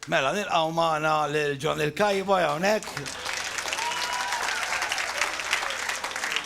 Mela nilqgħu magħna lil John il-Cowboy hawnhekk.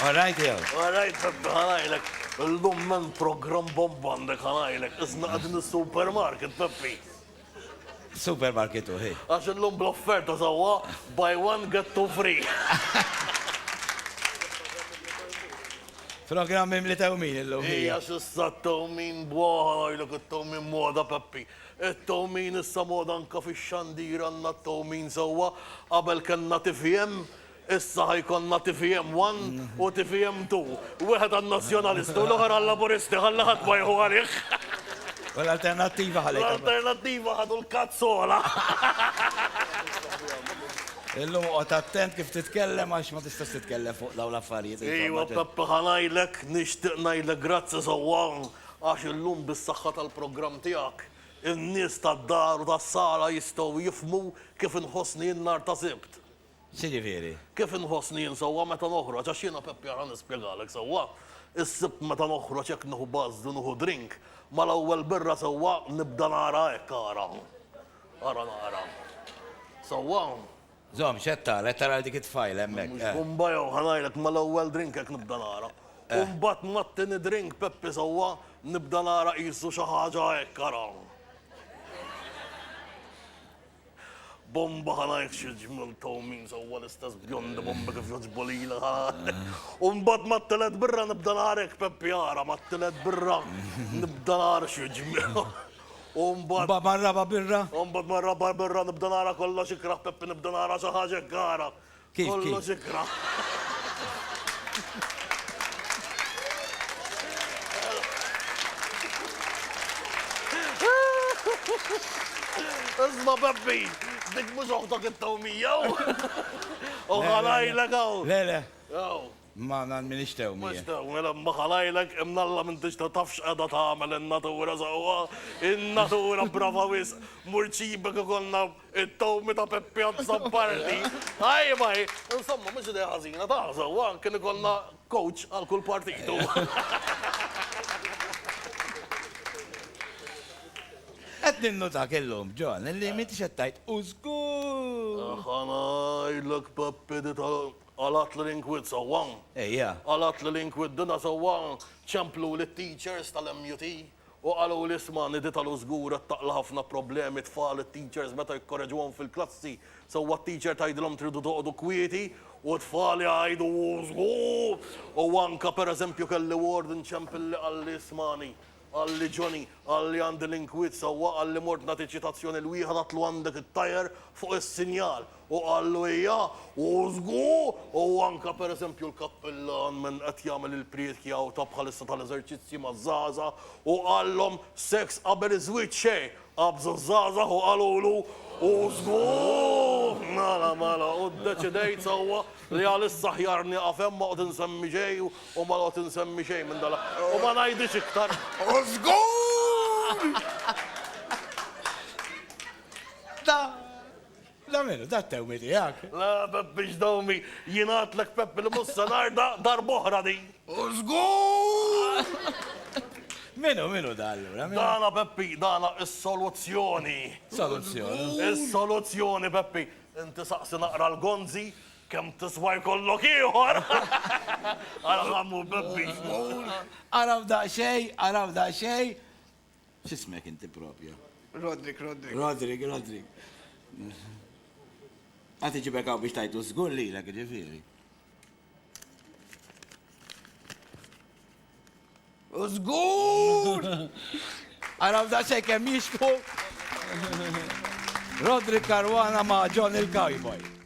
All right, jew. All right, Peppi, ħanajlek. Illum men program bomba għandek ħanajlek. Isna qegħdin is-supermarket, Peppi. Supermarket u ħi. Għax illum bl-offerta sewwa buy one get two free. Programm mimli tewmin illum. Ija xissa tewmin bwaħa għajlek it-tewmin moda Peppi. It-towmin issa moda anke fix-xandir għandna t-towmin sewwa. Qabel kellna tvm, issa ħa jkollna tvm one u tvm two. Wieħed għan-Nazzjonalisti u l-oħor għal-Laburisti ħalli ħadd ma jieħu għalih. U l-Alternattiva ħalli. L-Alternattiva ħadu l-kazzola. Illum oqgħod attent kif titkellem għax ma tistax titkellem fuq dawn l-affarijiet. Ejwa Peppa ħa ngħidlek, nixtieq ngħidlek grazzi sewwa. Għax illum bis-saħħa tal-programm tiegħek, in-nies tad-dar u tas-sala jistgħu jifhmu kif inħossni jien nhar ta' Sibt. X'jiġifieri? Kif inħossni jien sewwa meta noħroġ, għax jiena Peppi ara nispjegalek sewwa, is-Sibt meta noħroġ hekk nieħu buzz u nieħu drink, mal-ewwel birra sewwa nibda nara hekk ara. Ara nara. Sewwa? Żomm, x'qed tara? Qed tara lil dik it-tfajla hemmhekk? Mhux bumba jew ħa ngħidlek mal-ewwel drink hekk nibda nara. U mbagħad mat-tieni drink, Peppi sewwa, nibda nara qisu xi ħaġa hekk ara. Bumba ħa ngħidlek xi ġmiel tewmin sewwa l-istess bjondi bombi kif jogħġbu lili ħa. U mbagħad mat-tielet birra nibda nara hekk Peppi ara, mat-tielet birra nibda nara xi ġmiel. U mbagħad. Mbagħad mar-raba' birra. U mbagħad mar-raba' birra nibda nara kollox ikrah Peppi nibda nara xi ħaġa ikrahra. Kif kif? Kollox ikrah. Isma' Peppi, dik mhux oħtok it-tawmija. U ħa ngħidlek hawn. Le le. Hawn. Ma nan minix tew mie. Mhux tew mien imma ħalajlek imnalla m'intix ta' taf x'qegħda tagħmel in-natura sewwa. In-natura brava wisq. Mur ċibek ikollna t-tewmi ta' Peppi Azzopardi. Tajba hi. Insomma mhux idea ħażina taf sewwa kien ikollna coach għal kull partitu. Qed ninnutak illum, John, illi m'intix qed tgħid u żgur! Ħa ngħidlek Peppi di tal. Qalat lil Inkwit sewwa? Ejja. Qalat lil Inkwit dinha sewwa? Ċempluli t-teachers tal-MUT u qaluli isma' Nidhi ta' Lu żgur qed taqla' ħafna problemi t-tfal it-teachers meta jikkoreġuhom fil-klassi sewwa t-teacher tgħidilhom tridu toqgħodu kwieti u t-tfal jgħidu hu żgur u anke pereżempju kelli warden ċempilli qalli ismagħni Qalli Johnny, qalli għandi l-inkwiet sewwa, qalli mort nagħti ċitazzjoni l-wieħed għadtlu għandek it-tajer fuq is-sinjal u qallu hija u żgu u anke per eżempju l-kappillan minn qed jagħmel il-priedki hawn ta' bħalissa tal-eżerċizzji maż-żgħażagħ u qallhom seks qabel iż-żwieġ xejn Qabżu ż-żgħażagħ u qalulu, Hu żgur! Mela, mela, u ddeċidejt sewwa li għalissa aħjar nieqaf hemm, ma noqgħod insemmi xejn u ma noqgħod insemmi xejn minn dan l-aħħar. U ma ngħidhiex iktar, Hu żgur! La minnu, da t-tewmi tiegħek. La Pepp biex dawmi, jien għadtlek Pepp li mhux se narda darb'oħra din. U żgur! Min hu, min hu da allura? Dana Peppi, dana is-soluzzjoni. Soluzzjoni? Is-soluzzjoni Peppi. Inti saqsi naqra l-gonzi, kemm tiswa jkollok ieħor. Ara kemm hu Peppi. Araw daqsxejn, araw daqsxejn. X'ismek inti propju? Roderick, Roderick. Roderick, Roderick. Għad iġibek hawn biex tajtu żgur lilek ġifieri. U żgur! Għaraw da xejn kemm jixku. Roderick Caruana ma' John il-Cowboy.